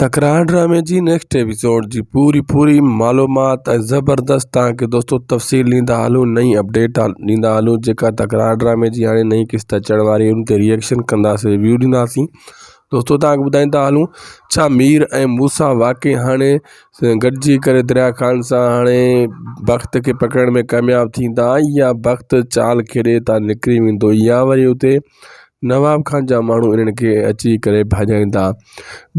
تڪرار ڊرامي جي نيڪسٽ ايپيسوڊ جي پوري پوري معلومات ۽ زبردست تان کي دوستو تفصيل ڏيندا هلون نئين اپڊيٽ ڏيندا هلون جيڪا تڪرار ڊرامي جي هاڻي نئين قسط اچڻ واري ان تي ريئڪشن ڪنداسين ريويو ڏينداسين دوستو تان کي ٻڌائيندا هلون ڇا مير ۽ موسا واقعي هاڻي گڏجي ڪري دريا خان سان هاڻي بخت کي پڪڙڻ ۾ ڪامياب ٿيندا يا بخت چال کيڏي تان نڪري ويندو يا وري اتي نواب خان جا ماڻهو انهن کي اچي ڪري ڀڄائين ٿا.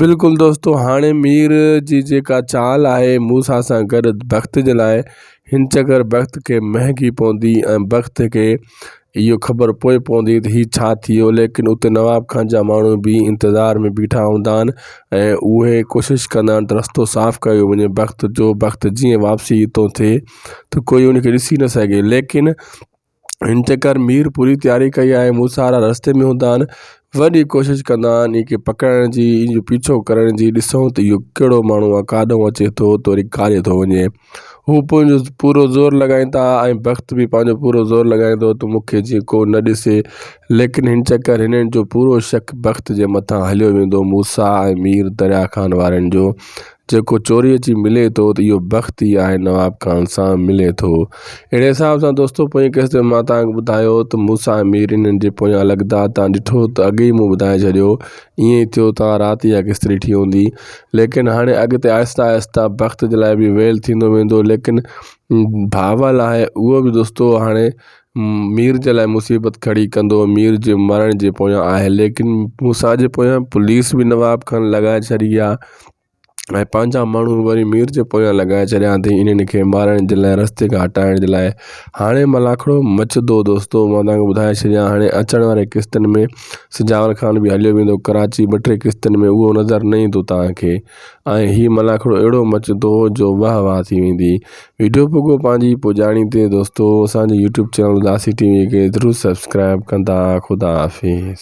بلڪل دوستو هاڻي مير جي جيڪا چال آهي موسيٰ سان گڏ بخت جي لاء هن چڪر بخت کي مهنگي پوندي ۽ بخت کي اهو خبر پوء پوندي ته هي ڇا ٿيو ليڪن اتي نواب خان جا ماڻهو به انتظار ۾ بيٺا هوندا آهن ۽ اهي ڪوشش ڪندا آهن ته رستو صاف ڪيو وڃي بخت جو بخت جيئن واپسي هتو ٿئي ته ڪوئي ان کي ڏسي نه سگهي ليڪن هن چڪر مير پوري تياري ڪئي آهي، مون سارا رستي ۾ هوندا آهن، وڏي ڪوشش ڪندا آهن ان کي پڪڙڻ جي، ان جو پيڇو ڪرڻ جي، ڏسون ته اهو ڪهڙو ماڻهو آهي، ڪاڏئون اچي ٿو ته وري ڪاڏي ٿو وڃي. هو پنهنجو پورو زور لڳائين ٿا ۽ بخت به پنهنجو پورو زور لڳائين ٿو ته مون کي جيئن ڪو نه ڏسي، ليڪن هن چڪر هنن جو پورو شڪ بخت جي مٿان هليو ويندو، موسيٰ ۽ مير دريا خان وارن جو جيڪو چوري اچي ملي ٿو ته اهو بخت ئي آهي نواب خان سان ملي ٿو اهڙي حساب سان دوستو پوئين قسط ۾ مان توهان ٻڌايو ته موسا امير انهن جي پويان لڳدار توهان ڏٺو ته اڳي ئي مون ٻڌائي ڇڏيو ائين ئي ٿيو توهان رات اها قسط ڏٺي هوندي ليڪن هاڻي اڳتي آهستي آهستي بخت جي لاء به ويل ٿيندو ويندو ليڪن ڀاول آهي اهو به دوستو هاڻي مير جي لاء مصيبت کڙي ڪندو مير جي مرڻ جي پويان آهي ليڪن موسيٰ جي پويان پوليس به نواب کان لڳائي ڇڏي آ ۽ پنهنجا ماڻهو وري مير جي پويان لڳائي ڇڏيا اٿئي انهن کي مارڻ جي لاء رستي کان هٽائڻ جي لاء هاڻي ملاکڙو مچندو دوستو مان توهان کي ٻڌائي ڇڏيان هاڻي اچڻ واري قسطن ۾ سجاول خان به هليو ويندو ڪراچي ٻه ٽي قسطن ۾ اهو نظر نه ايندو توهان کي ۽ هي ملاکڙو اهڙو مچندو جو واه واه ٿي ويندي. وڊيو پوڳو پنهنجي پڄاڻي تي دوستو اسان جي YouTube channel Udasi TV V کي ضرور سبسڪرائب ڪندا خدا حافظ.